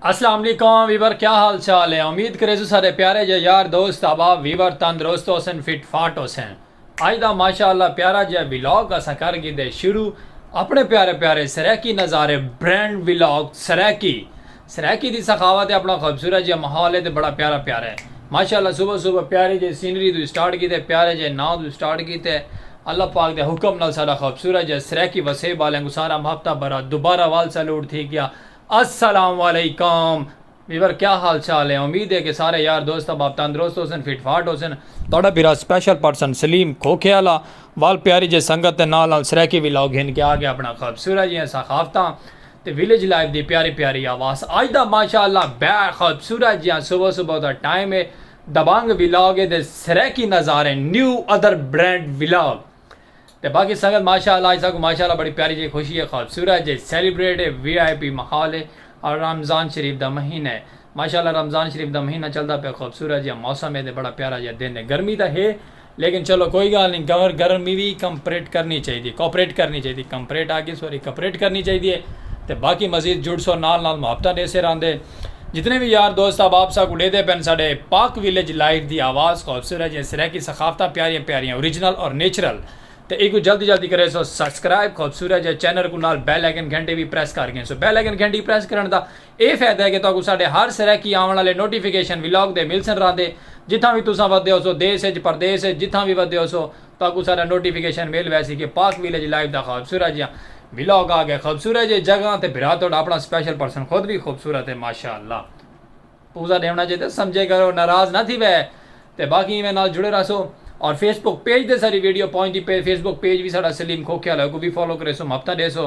السلام علیکم ویور کیا حال چال ہے امید کرے سو سارے پیارے جے یار دوست احباب ویور تندرست ہو سن فٹ فاٹ ہو سن اج دا ماشاء اللہ پیارا جیہا ولاگ اساں کر گھدے شروع اپنے پیارے پیارے سرائیکی نظارے برینڈ ولاگ سرائیکی سرائیکی دی سخاوت ہے اپنا خوبصورت جیہا ماحول ہے تے بڑا پیارا پیارا ہے ماشاء اللہ صبح صبح پیارے جیہے سینری توں اسٹارٹ کیتے پیارے جیہے ناں توں اسٹارٹ کیتے اللہ پاک دے حکم نال ساڈا خوبصورت جیہا سرائیکی وسیب آلیاں کوں سارا ہفتہ بھرا دوبارہ وال سلوٹ تھی گیا السلام علیکم۔ ویور کیا حال چال ہیں امید ہے کہ سارے یار دوست احباب تندرست ہوسن فٹ فاٹ ہوسن تہاڈا بھرا اسپیشل پرسن سلیم کھوکھے آلا وال پیاری جے سنگت تے نال نال سرائیکی ولاگ گھن کے آ گیا اپنا خوبصورت جیاں ثقافتاں تے ویلیج لائف دی پیاری پیاری آواز اج دا ماشاءاللہ بے خوبصورت جیاں صبح صبح دا ٹائم ہے دبنگ ولاگ ہے تے سرائیکی نظارے نیو ادر برینڈ ولاگ تے باقی سنگت ماشاء اللہ اج ساکوں ماشاء اللہ بڑی پیاری جئی خوشی اے خوبصورت جئی سیلیبریٹ اے وی آئی پی ماحول اے اور رمضان شریف دا مہینہ اے ماشاء اللہ رمضان شریف دا مہینہ چلدا پے خوبصورت جیا موسم اے تے بڑا پیارا جیا دن اے گرمی تاں ہے لیکن چلو کوئی گالھ نی گور گرمی وی کمپریٹ کرنی چاہیدی کوپریٹ کرنی چاہیدی کمپریٹ آکھیے سوری کپریٹ کرنی چاہیدی اے تے باقی مزید جڑسو نال نال محبتاں ڈیسے راہندے۔ جتنے وی یار دوست احباب ساکوں ڈیدھے پن ساڈے پاک ویلیج لائیو دی آواز خوبصورت جیاں سرائیکی ثقافتاں پیاریاں پیاریاں اوریجنل اور نیچرل تے ایکوں جلدی جلدی کریسو سبسکرائب خوبصورت جے چینل کوں نال بیل آئیکن گھنٹی وی پریس کر گھنسو بیل آئیکن گھنٹی پریس کرن دا اے فیدہ اے کہ تہاکوں ساڈے ہر سرائیکی آون آلے نوٹیفیکیشن ولاگ دے ملسن راہندے جتھاں وی تساں ودھے ہوسو دیس اچ پردیس اچ جتھاں وی ودھے ہوسو تہاکوں سارا نوٹیفکیشن مل ویسی کہ پاک ویلیج لائیو دا خوبصورت جیاں ولاگ آ گئے خوبصورت جیاں جگہاں تے بھرا تہاڈا اپنا اسپیشل پرسن خود وی خوبصورت ہے ماشاءاللہ پوزہ ڈیونڑاں چاہیدا سمجھے کرو ناراض نہ تھیوے تے باقی ایویں نال جڑے رہسو اور فیس بک پیج تے ساری ویڈیو پہنچدی پئے فیس بک پیج وی ساڈا سلیم کھوکھے آلا ہے اوکوں وی فالو کریسو محبتاں ڈیسو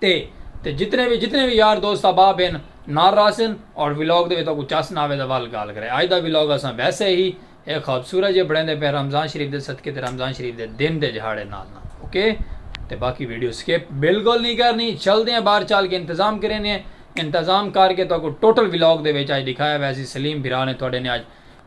تے تے جتنے وی جتنے وی یار دوست احباب ہن نال رہسن اور ولاگ دے وچ تہاکوں چس نہ آوے تاں ول گالھ کرے اج دا ولاگ اساں ویسے ہی ہک خوبصورت جیہے بنڑیندے پئے رمضان شریف دے صدقے تے رمضان شریف دے دن دے جہاڑے نال نال اوکے تے باقی ویڈیو سکپ بالکل نی کرنی چلدے ہیں باہر چل کے انتظام کرینے ہیں انتظام کر کے تہاکوں ٹوٹل ولاگ دے وچ اج ڈکھایا ویسی سلیم بھرا نے تہاڈے نے اج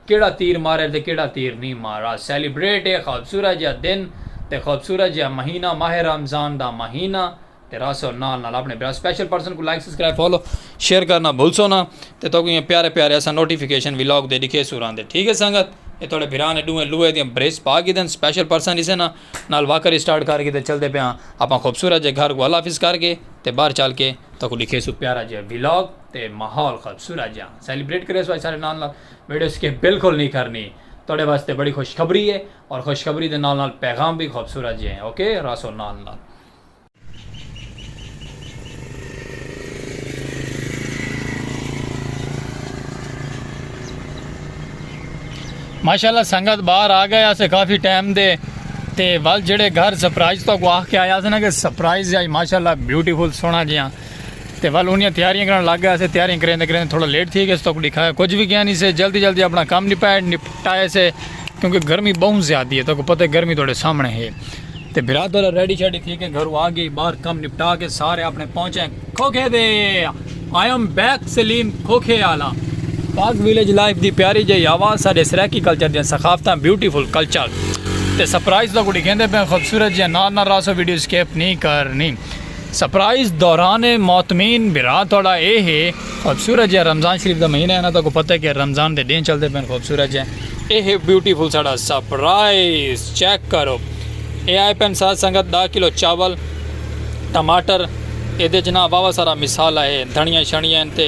کیڑھا تیر مارے تے کیڑھا تیر نی مارا سیلیبریٹ اے خوبصورت جیہا دن تے خوبصورت جیہا مہینہ ماہ رمضان دا مہینہ تے راسو نال نال اپنے بھرا سپیشل پرسن کوں لائک سبسکرائب فالو شیئر کرنا بھلسو نا تے تہاکوں ایہاں پیارے پیارے اساں نوٹیفیکیشن ولاگ دے ڈکھیسوں راہندے ٹھیک اے سنگت اے تہاڈے بھرا نے ڈوہیں لوہے دیاں بریس پا گھدن سپیشل پرسن اسے نا نال واکر اسٹارٹ کر گھدے چلدے پے ہاں اپاں خوبصورت جیہے گھر کوں اللہ حافظ کر کے تے باہر چل کے تہاکوں ڈکھیسوں پیارا جیہا ولاگ تے ماحول خوبصورت جیہا سیلیبریٹ کریسوں اج سارے نال نال۔ ویڈیو سکپ بالکل نی کرنی تہاڈے واسطے بڑی خوشخبری ہے اور خوشخبری دے نال نال پیغام بھی خوبصورت جے ہیں اوکے راسو نال نال۔ ماشاءاللہ سنگت باہر آ گئے اسے کافی ٹائم دے تے ول جڑے گھر سرپرائز تو کو آخ کے آیا تھا نا کہ سرپرائز یا ماشاءاللہ بیوٹیفل سونا جیاں تے ول اونیاں تیاریاں کرݨ لگ ڳئے سے تیاریاں کریندے کریندے تھوڑا لیٹ تھی ڳئے توک ݙکھایا کجھ وی کیاں نی سے جلدی جلدی اپݨا کم نپائے نپٹائے سے کیونکہ گرمی ٻہوں زیادی ہے توک پتہ ہے گرمی تہاݙے سامݨے ہے تے بھرا تہاݙا ریڈی شیڈی تھی کے گھروں آ ڳئے ٻاہر کم نپٹا کے سارے اپݨے پہنچے کھوکھے دے آئی ایم بیک سلیم کھوکھے آلا پاک ویلیج لائف دی پیاری جئی آواز ساݙے سرائیکی کلچر دیاں ثقافتاں بیوٹی فل کلچر تے سرپرائز توک ݙکھیندے پئے خوبصورت جیاں نال نال راسو ویڈیو اسکیپ نی کرݨی سرپرائز دوران معتمین بھرا تہاڈا اے ہے خوبصورت جیہا رمضان شریف دا مہینہ ہے نا تہاکوں پتہ ہے کہ رمضان دے ڈینہہ چلدے پئن خوبصورت جیہا اے ہے بیوٹیفل ساڈا سرپرائز چیک کرو اے آئے پئن ساتھ سنگت ڈاہ کلو چاول ٹماٹر ایدے اچ نا واوا سارا مصالحہ ہے دھنیاں شنیاں ہن تے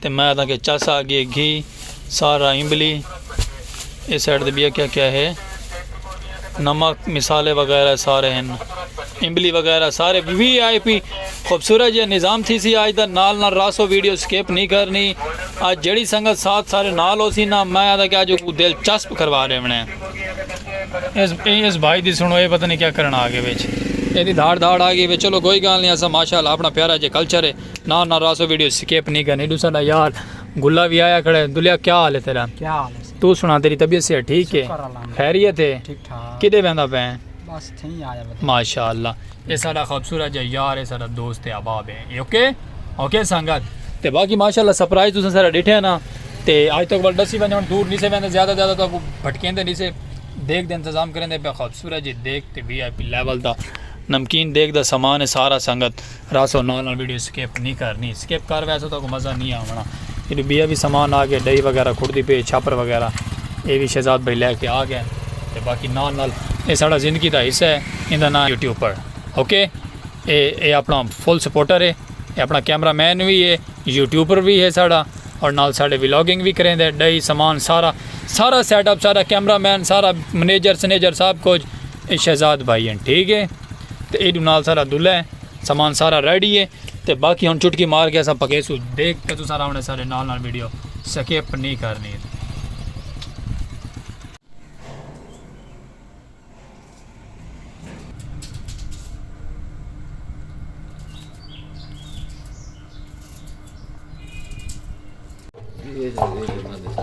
تے میں آدھاں کہ چس آ گی گھی سارا امبلی اے سائیڈ تے بیا کیا کیا ہے نمک مسالے وغیرہ سارے ہیں امبلی وغیرہ سارے وی آئی پی خوبصورت جی نظام تھی سی آج دا نال نال راسو ویڈیو سکیپ نہیں کرنی آج جڑی سنگت ساتھ سارے نال ہو سی نا میں آدھا کہ آج کو دل چسپ کروا رہے ہیں اس, اس بھائی دی سنو اے پتہ نہیں کیا کرنا آگے بیچ اے دی دھاڑ دھاڑ آگے بیچ چلو کوئی گال نہیں ایسا ماشاءاللہ اپنا پیارا جی کلچر ہے نا نا راسو ویڈیو سکیپ نہیں کرنی ڈو ساڈا یار گلا بھی آیا کھڑے دلیا کیا حال ہے تیرا کیا حال ہے تو سنا تیری طبیعت سے ٹھیک ہے خیریت ہے ٹھیک ٹھاک کدے بیندا پے بس تھیں آیا ماشاءاللہ اے ساڈا خوبصورت جا یار ہے ساڈا دوست ہے احباب ہے اوکے اوکے سنگت تے باقی ماشاءاللہ سرپرائز تساں سارا ڈٹھے نا تے اج تک ول دسی ونجن دور نہیں سے ویندے زیادہ زیادہ تو بھٹکیندے نہیں سے دیکھ دے انتظام کریں دے پہ خوبصورت جی دیکھ تے وی آئی پی لیول دا نمکین دیکھ دا سامان ہے سارا سنگت رہسو نال نال ویڈیو سکپ نی کرنی سکپ کر ویسو تہاکوں مزہ نی آونا ایڈو بیا وی سامان آگئے ڈئی وغیرہ کھڑدی پئی چھاپر وغیرہ اے وی شہزاد بھائی لے کے آگئے تے باقی نال نال اے ساڑا زندگی دا حصہ ہے ایندا ناں یوٹیوپر اوکے اے اے اپنا فل سپورٹر ہے اے اپنا کیمرہ مین وی ہے یوٹیوپر وی ہے ساڑا اور نال ساڑے ولاگنگ وی کریندے ڈئی سامان سارا سارا سیٹ اپ سارا کیمرہ مین سارا منیجر سنیجر سب کچھ اے شہزاد بھائی ہن ٹھیک ہے تے ایڈو نال سارا دلہ ہے سامان سارا ریڈی ہے تے باقی ہن چٹکی مار کے اسا پکیسو دیکھ کے تو سارا ہونے سارے نال نال ویڈیو سکیپ نہیں کرنی یہ جو یہ جو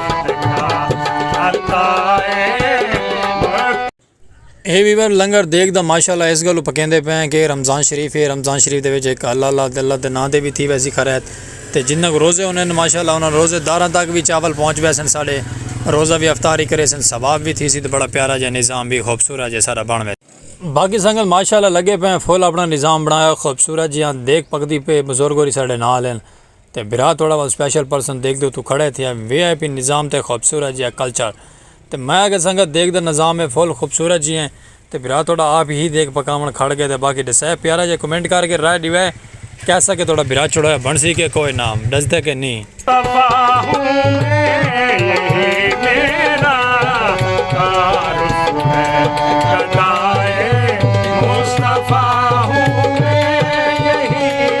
اے ویور لنگر دیکھ دا ماشاءاللہ اس گلو پکیندے پے ہیں کہ رمضان شریف ہے رمضان شریف دے وچ ایک اللہ اللہ دے اللہ دے نام دے بھی تھی ویسی خرید تے جنہ کو روزے ہونے ہیں ماشاءاللہ انہاں روزے داراں تک بھی چاول پہنچ ویسن ساڑے روزہ بھی افطاری کرے سن ثواب بھی تھی سی تے بڑا پیارا جے نظام بھی خوبصورت جے سارا بن ویسے باقی سنگل ماشاءاللہ لگے پے ہیں فل اپنا نظام بنایا خوبصورت جیاں دیکھ پکدی پے بزرگ ہوری ساڑے نال ہیں تے بھرا تہاڑا ول سپیشل پرسن دیکھدے اتھوں کھڑے تھیا وی آئی پی نظام تے خوبصورت جیہا کلچر تے میں آکھیا سنگت دیکھ دا نظام ہے فل خوبصورت جی ہیں تے بھرا تہاڑا آپ ہی دیکھ پکاون کھڑ گئے تے باقی ڈسے پیارا جیہا کمنٹ کر کے رائے ڈیوے کیسا کہ تہاڑا بھرا چھڑویا بنسی کے کوئے نہ ڈسدے کے نی۔ تباہ ہوں میں یہی میرا تعارف ہے گدائے مصطفی ہوں میں یہی۔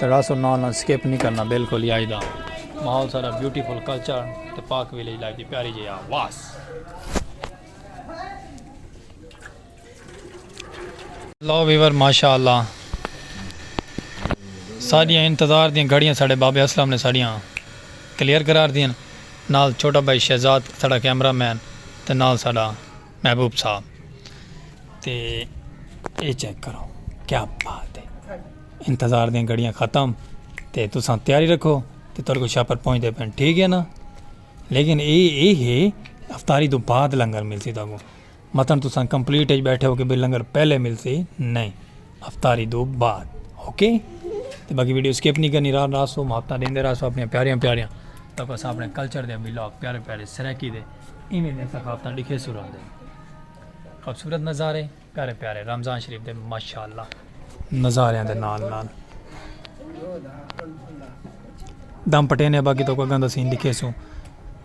تڑا سو نال نال سکپ نہیں کرنا بالکل ہی آئی دا ماحول سارا بیوٹیفل کلچر تے پاک ویلیج لائف دی پیاری جی آواز لو ویور ماشاءاللہ ساڑیاں انتظار دیاں گھڑیاں ساڑے بابے اسلام نے ساڑیاں کلیئر کرار دیاں نال چھوٹا بھائی شہزاد ساڑا کیمرہ مین تے نال ساڑا محبوب صاحب تے اے چیک کرو کیا بات ہے انتظار دیاں گھڑیاں ختم تے تساں تیاری رکھو تے تہاڈے کول شاپر پہنچ دے پن ٹھیک ہے نا لیکن اے اے ہے افطاری تو بعد لنگر ملسی تہاکوں متن تساں کمپلیٹ اچ بیٹھے ہو کہ بھئی لنگر پہلے ملسی نہیں افطاری دو بعد اوکے تے باقی ویڈیو سکپ نہیں کرنی راہ راسو محبتہ دیندے راسو اپنی پیاریاں پیاریاں تاکہ اساں اپنے کلچر دے ولاگ پیارے پیارے سرائیکی دے ایویں دے ثقافتاں ڈکھے سرا دے خوبصورت نظارے پیارے پیارے رمضان شریف دے ماشاءاللہ نظاریاں دے نال نال دم پٹے نے باقی تو کوئی گندہ سین دکھے سوں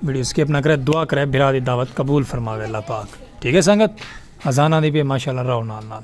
ویڈیو سکپ نہ کرے دعا کرے بھرا دی دعوت قبول فرماوے اللہ پاک ٹھیک ہے سنگت ازانہ دی بھی ماشاءاللہ رہو نال نال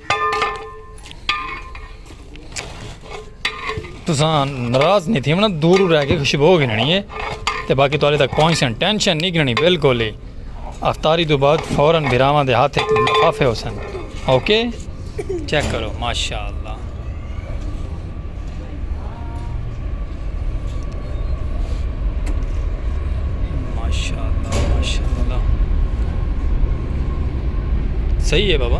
تساں ناراض نہیں تھی من دور رہ کے خوشبو ہو گننی ہے تے باقی تالے تک پہنچ سن ٹینشن نہیں گننی بالکل ہی افطاری تو بعد فوراً بھراواں دے ہاتھ لفافے ہو سن اوکے چیک کرو ماشاءاللہ صحیح ہے بابا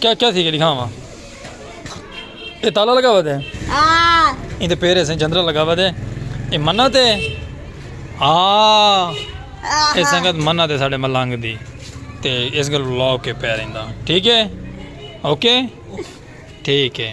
کیا کیا تھی گلی کھاواں اے تالا لگا ہوا دے ایں دے پیرے سے جندرا لگا ہوا دے اے منا تے آ اے سنگت منا تے ساڑے ملانگ دی تے اس گل لو کے پیریں دا ٹھیک ہے اوکے ٹھیک ہے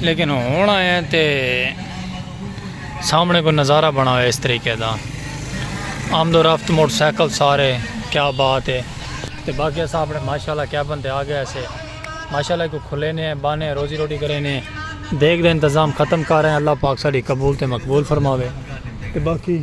لیکن ہن آئے تے سامنے کوئی نظارہ بنا ہوئے اس طریقے دا آمد و رفت موٹر سائیکل سارے کیا بات ہے تے باقی ایسا اپنے ماشاءاللہ کیا بنتے آگے ایسے ماشاءاللہ کو کھلے نے بانے روزی روٹی کرے نے دیکھ دے انتظام ختم کر رہے ہیں اللہ پاک ساڑی قبول تے مقبول فرماوے تے باقی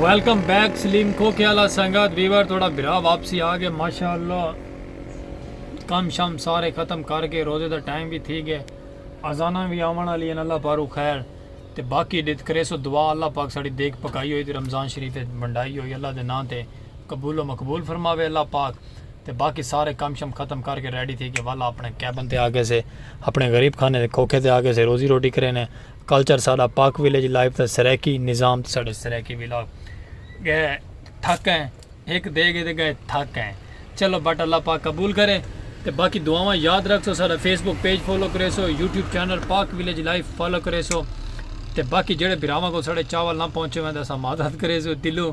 ویلکم بیک سلیم کو کیا لا سنگت ویور تھوڑا برا واپسی آ گئے ماشاءاللہ کم شام سارے ختم کر کے روزے دا ٹائم بھی تھی گئے ازانہ بھی آمن علی اللہ پارو خیر تے باقی ڈت کریسو دعا اللہ پاک ساڑی دیکھ پکائی ہوئی تے رمضان شریف تے بندائی ہوئی اللہ دے نام تے قبول و مقبول فرماوے اللہ پاک تے باقی سارے کم شم ختم کر کے ریڈی تھی کے والا اپنے کیبن تے آگئے سے اپنے غریب خانے دے کھوکھے تے آگئے سے روزی روٹی کرے نے کلچر ساڈا پاک ویلیج لائف دا سرائیکی نظام تے ساڈے سرائیکی ولاگ گئے تھک ہیں ایک دے گئے دے گئے تھک ہیں چلو بٹ اللہ پاک قبول کرے تے باقی دعاواں یاد رکھ سو سارا فیس بک پیج فالو کرے سو YouTube channel Pak village life follow کرے سو تے باقی جڑے براواں کو سارے چاول نہ پہنچے ہوئے دے سا معذرت کرے سو دلوں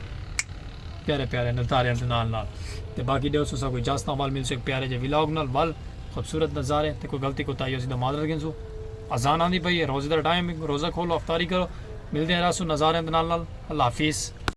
پیارے پیارے نظارے دے نال نال تے باقی ڈیو سو سا کوئی جس تاں ول مل سو ایک پیارے جے ولاگ نال ول خوبصورت نظارے تے کوئی غلطی کو تائی ہو سی دا معذرت گھن سو اذان آندی پئی ہے روزے دا ٹائم روزہ کھولو افطاری کرو ملدے ہیں راسو نظارے دے نال نال اللہ حافظ